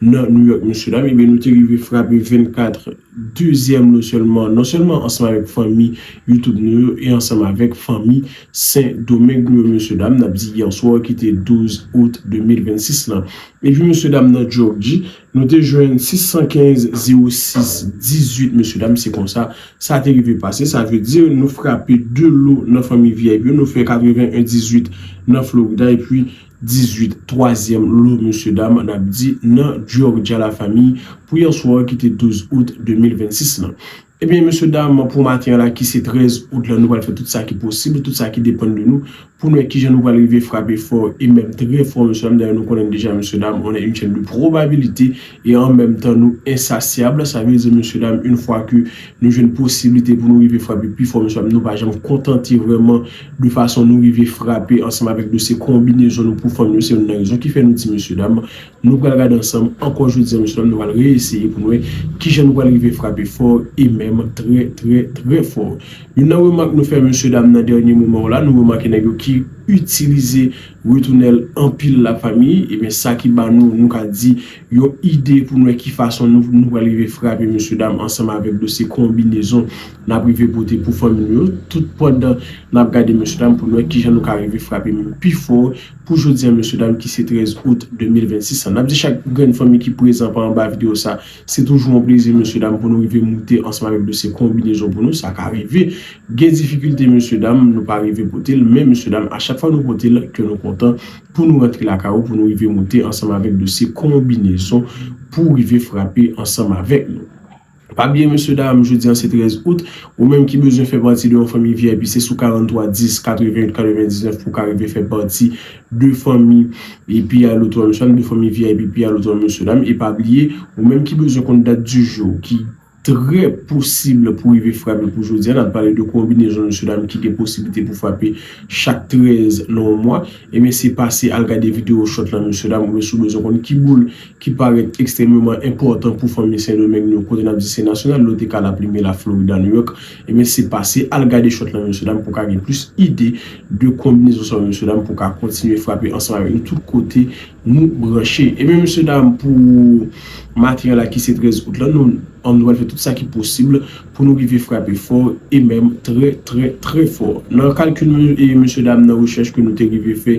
nan New York mesye dam ebyen nou te rive frape 24 dezyèm nou sèlman non sèlman ansanm avèk fanmi YouTube nou yo e ansanm avèk fanmi Sen Domeng nou yo mesye dam nap di yèswa ki te 12 out 2026 lan epi mesye dam nan Jorji nou te jwenn 615 06 18 mesye dam se konsa sa te rive pase sa vle di nou frape 2 lo nan fanmi vip yo nou fè 81 18 nan Florida epi 18 twazyèm lo mesye dam n ap di nan Georgia la fami pou yè swa ki te 12 out 2026 lan. Ebyen mesye dam pou maten an la ki se 13 out lan nou pral fè tout sa ki posib, tout sa ki depann de nou pou nou wè kijan nou pral rive frape fò e menm trè fò mesye dam dayè nou konnen deja mesye dam on est une chaîne de probabilité. e an menm tan nou ensasyab, sa vle di mesye dam yn fwa ke nou jwenn posiblite pou nou rive frape pi fò mesye dam nou pa janm kontante vrèman de fason nou rive frape ansanm avèk nou se konbinezon nou pou fanm yo se youn nan rezon ki fè nou di mesye dam nou pral gade ansanm ankò jodi an mesye dam nou pral re-eseye pou nou wè kijan nou pral rive frape fò e menm trè trè trè fò youn nan remak nou fè mesye dam nan dènye moman yo la nou remake nèg yo ki itilize Retounel anpil la fanmi ebyen sa ki ba nou nou ka di yon ide pou nou wè ki fason nou pral rive frape mesye dam ansanm avèk dosye konbinezon nap rive pote pou fanmi nou yo tout pandan nap gade mesye dam pou nou wè kijan nou ka rive frape menm pi fò pou jodi an mesye dam ki se 13 out 2026 la nap di chak grenn fanmi ki prezan pa anba video sa Se toujou yon plezi mesye dam pou nou rive moute ansanm avèk dosye konbinezon pou nou, sa ka rive gen difikilte mesye dam nou pa rive pote l men mesye dam a chak fwa nou pote l kè nou kontan pou nou rantre lakay ou pou nou rive moute ansanm avèk dosye konbinezon pou rive frape ansanm avèk nou. Pa bliye mesye dam jodi an se 13 out ou menm ki bezwen fè pati de yon fanmi vip se sou 43 10 88 99 pou w ka rive fè pati 2 fanmi epi alo 3 mesye dam 2 fanmi vip epi alo 3 mesye dam e pa bliye ou menm ki bezwen konn dat di jou ki trè posib pou rive frape pou jodi a nap pale de konbinezon mesye dam ki gen posiblite pou frape chak 13 nan yon mwa ebyen se pase al gade video chòt lan mesye dam oubyen si w bezwen konn ki boul ki parèt ekstrèmeman enpòtan pou fanmi sendomeng nou kote nap di se nasyonal lote ka laplime laflorida nouyòk E mesye pase al gade shot lan mesye dam pou ka gen plis ide de konbinezon sa yo mesye dam pou ka kontinye frape ansanm avèk nou tout kote nou branche. Ebyen mesye dam pou maten an la ki se 13 out lan nou an pral fè tout sa ki posib pou nou rive frape fò e menm trè trè trè fò. Nan kalkil nou e mesye dam nan rechèch ke nou te rive fè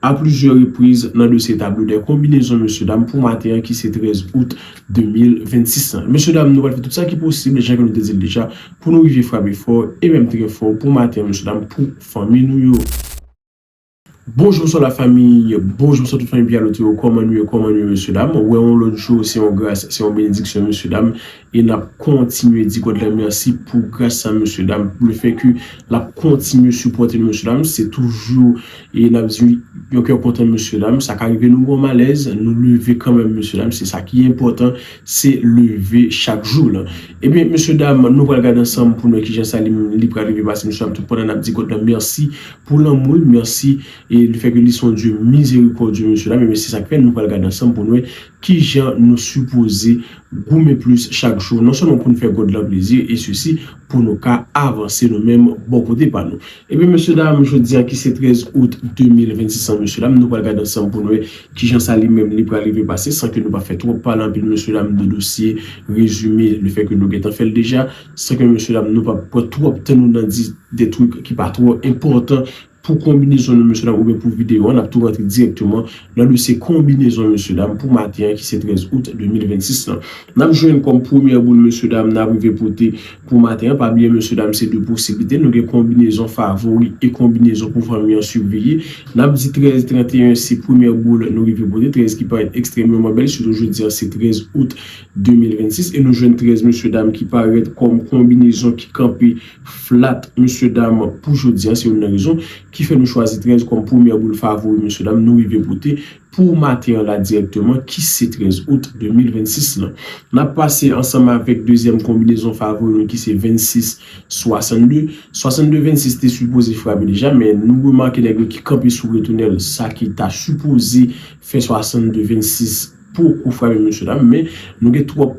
A plizyè repriz nan dosye tablo dè konbinezon mesye dam pou maten an ki se 13 out 2026 lan. Mesye dam nou pral fè tout sa ki posib jan ke nou te di l deja pou nou rive frape fò e menm trè fò pou maten an mesye dam pou fanmi nou yo. Bonjou bonswa la famiy bonjou bonswa tout fanmi Pierre Lotto yo kòman nou ye kòman nou ye mesye dam wè yon lòt jou se yon gras se yon benediksyon mesye dam E nap kontinye di God la merci pou gras sa mesye dam le fait que lap kontinye sipòte nou mesye dam se toujou e nap di yon kè kontan mesye dam sa ka rive nou gon malèz nou leve kanmèm mesye dam se sa ki enpòtan se leve chak jou la ebyen mesye dam nou pral gad ansanm pou nou wè kijan sa li pral rive pase mesye dam tout pandan nap di God la merci pou lanmou l merci e le fait que li son Dieu miséricordieux mesye dam ebyen se sak fè nou pral gad ansanm pou nou wè Ki jan nou sipoze goumen plis chak jou, non sèlman pou nou fè God lan plezi, e sesi pou nou ka avanse nou menm bò kote pa nou. Ebyen mesye dam, jodi a ki se 13 out 2026 lan mesye dam, nou pral gade ansanm pou nou wè ki jan sa li menm li pral rive pase san ke nou pa fè twòp pale anpil mesye dam de dosye rezime le fè ke nou gentan fè l deja san ke mesye dam nou pap pran twòp tan nou nan di de twik ki pa twò enpòtan pou konbinezon nou mesye dam oubyen pou videyo an, n ap tou rantre dirèkteman nan dosye konbinezon mesye dam pou maten an ki se 13 out 2026 lan. N ap jwenn kòm premyè boul mesye dam n ap rive pote pou maten an, pa bliye mesye dam se 2 posiblite, nou gen konbinezon favori e konbinezon pou fanmi an siveye, n ap di 13 31 se premyè boul nou rive pote, 13 ki parèt ekstrèmeman bèl sitou jodi an se 13 out 2026 e nou jwenn 13 mesye dam ki parèt kòm konbinezon ki kanpe flat mesye dam pou jodi an se youn nan rezon ki fè nou chwazi 13 kòm premyè boul favori mesye dam nou rive pote pou maten an la dirèkteman ki se 13 out 2026 lan nap pase ansanm avèk dezyèm konbinezon favori nou ki se 26 62 62 26 te sipoze frape deja men nou remake nèg yo ki kanpe sou retounèl sa ki ta sipoze fè 62 26 poko frape mesye dam men nou gen twòp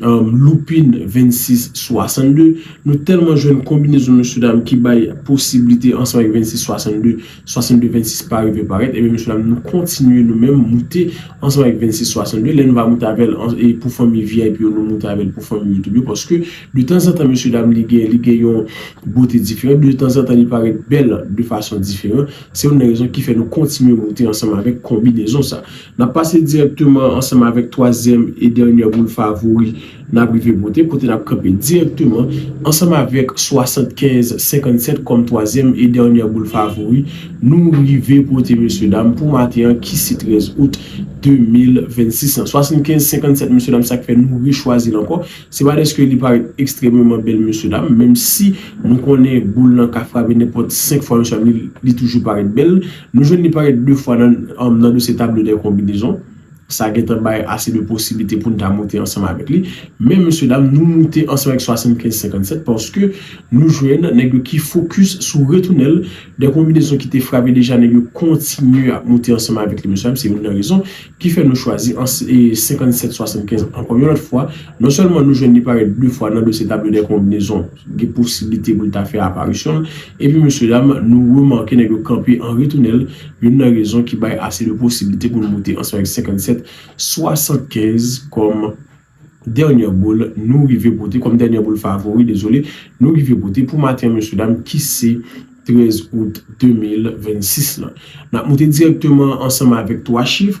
Lupin 26 62 Nou tèlman jwenn konbinezon mesye dam ki bay posiblite ansanm ak 26 62 62 26 pa rive parèt ebyen mesye dam nou kontinye nou menm moute ansanm ak 26 62 lè nou va moute avèl pou fanmi vip yo nou moute avèl pou fanmi youtube yo paske de tanzantan mesye dam li gen li gen yon bote diferan de tanzantan li parèt bèl de fason diferan se youn nan rezon ki fè nou kontinye moute ansanm avèk konbinezon sa. N ap pase dirèkteman ansanm avèk twazyèm e dènyè boul favori n ap rive pote, kote n ap kanpe dirèkteman ansanm avèk 75 57 kòm twazyèm e dènyè boul favori nou rive pote mesye dam pou maten an ki se 13 out 2026 lan. 75 57 mesye dam sa k fè nou rechwazi l ankò se pa dèske li parèt ekstrèmeman bèl mesye dam menm si nou konnen boul lan ka frape nenpòt 5 fwa mesye dam li toujou parèt bèl. Nou jwenn li parèt 2 fwa nan dosye Tableau des combinaisons. Sa gen tan bay ase de posiblite pou n ta moute ansanm avèk li. Men mesye dam, nou moute ansanm avèk 75 57 paske nou jwenn nèg yo ki fokis sou retounèl de konbinezon ki te frape deja nèg yo kontinye ap moute ansanm avèk li mesye dam. Se youn nan rezon ki fè nou chwazi 57 75 ankò yon lòt fwa. Non sèlman nou jwenn li parèt 2 fwa nan dosye Tableau des combinaisons. gen posiblite pou l ta fè aparisyon l, epi mesyedam, nou remake nèg yo kanpe an retounèl, youn nan rezon ki bay ase de posiblite pou nou moute ansanm avèk 57, 75 kòm dènyè boul nou rive pote, kòm dènyè boul favori, dezole, nou rive pote pou maten an mesyedam ki se 13 out 2026 lan. N ap moute dirèkteman ansanm avèk 3 chif,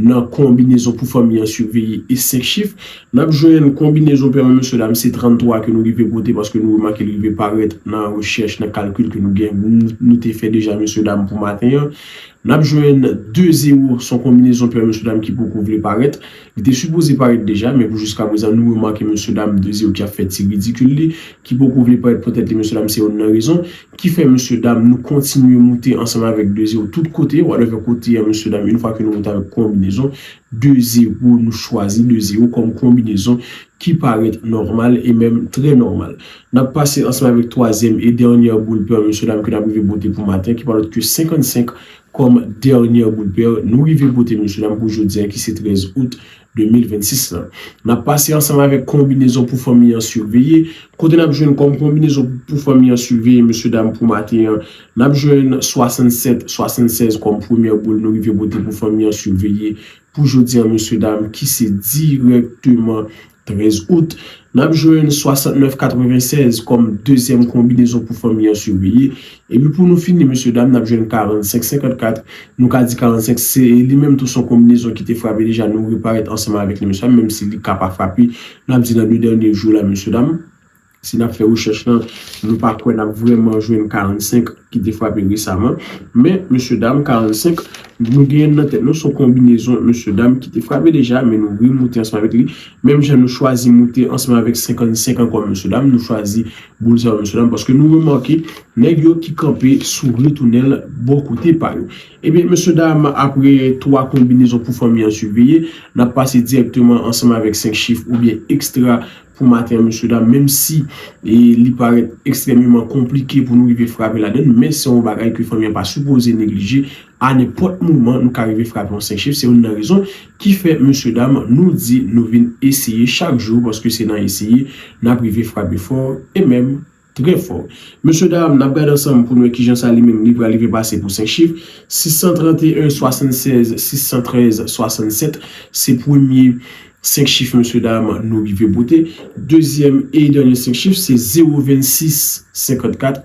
Nan konbinezon pou fanmi an siveye e 5 chif, n ap jwenn konbinezon pèman mesye dam se 33 ke nou rive pote paske nou remake li rive parèt nan rechèch, nan kalkil ke nou gen, nou te fè deja mesye dam pou maten an. N ap jwenn 2 zewo s on konbinezon pèman mesye dam ki poko vle parèt. Li te sipoze parèt deja men pou jiskaprezan nou remake mesye dam 2 zewo ki ap fè ti ridikil li, ki poko vle parèt poutèt li mesye dam se youn nan rezon. Ki fè mesye dam nou kontinye moute ansanm avèk de zero tout kote, whatever kote an mesye dam une fwa ke nou moute avèk konbinezon de zero nou chwazi de zero kòm konbinezon ki parèt nòmal e menm trè nòmal. Nap pase ansanm avèk twazyèm e dènyè boul pèr mesye dam ke nap rive pote pou maten ki pa lòt ke 55 kòm dènyè boul pèr nou rive pote mesye dam pou jodi an ki se 13 out 2026 lan. N ap pase ansanm avèk konbinezon pou fanmi an siveye. Kote n ap jwenn kòm konbinezon pou fanmi an siveye mesye dam pou maten an, n ap jwenn 67, 76 kòm premyè boul nou rive pote pou fanmi an siveye pou jodi an mesye dam ki se dirèkteman 13 out. N ap jwenn 69, 96 kòm dezyèm konbinezon pou fanmi an siveye Epi pou nou fini mesye dam nap jwenn 45 54 nou ka di 45 se li menm tou son konbinezon ki te frape deja nou reparèt ansanm avèk li mesye dam menm si li ka pa frape nap di nan 2 dènye jou la mesye dam si nap fè rechèch lan nou pa kwè nap vrèman jwenn 45 ki te frape resaman men mesye dam 45 nou genyen nan tèt nou son konbinezon mesye dam ki te frape deja men nou remoute ansanm avèk li menm jan nou chwazi moute ansanm avèk 55 ankò mesye dam nou chwazi Boul sa yo mesye dam paske nou remake nèg yo ki kanpe sou retounèl bò kote pa yo. Ebyen mesye dam apre 3 konbinezon pou fanmi an siveye nap pase dirèkteman ansanm avèk 5 chif oubyen ekstra pou maten an mesye dam menm si li parèt ekstrèmeman konplike pou nou rive frape ladann men se yon bagay ke fanmi an pa sipoze neglije A nenpòt moman nou ka rive frape yon 5 chif, se youn nan rezon ki fè mesye dam nou di nou vin eseye chak jou paske se nan eseye n ap rive frape fò e menm trè fò. Mesye dam n ap gade ansanm pou n wè kijan sa li menm li pral rive pase pou 5 chif, 631 76 613 67 se premye 5 chif mesye dam nou rive pote, dezyèm e dènye 5 chif se 0 26 54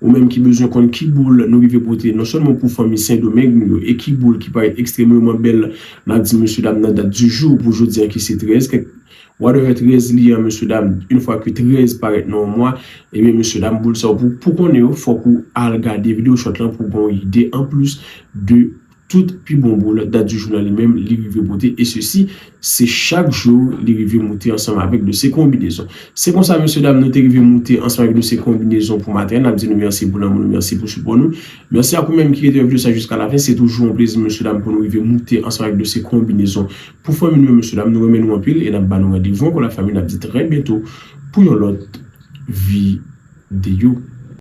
Ou menm ki bezwen konn ki boul nou rive pote non sèlman pou fanmi Sendomeng nou yo e ki boul ki parèt ekstremreman bèl n ap di mesye dam nan dat di jou pou jodi an ki se 13 kèk whatever 13 li an mesye dam yn fwa ke 13 parèt nan yon mwa ebyen mesye dam boul sa yo pou pou konnen yo fòk ou al gade video short lan pou w gen yon ide anplis de Tout pi bon bro nan dat di jou la li menm li rive pote e sesi se chak jou li rive moute ansanm avèk dosye konbinezon. Se konsa mesye dam nou te rive moute ansanm avèk dosye konbinezon pou maten an nap di nou mèsi pou lanmou nou mèsi pou sipò nou. Mèsi ak ou menm ki rete wè video sa jiska lafen se toujou yon plezi mesye dam pou nou rive moute ansanm avèk dosye konbinezon pou fanmi nou yo mesye dam nou renmen nou anpil e nap ba nou randevou ankò la fanmi nap di trè byento pou yon lòt videyo.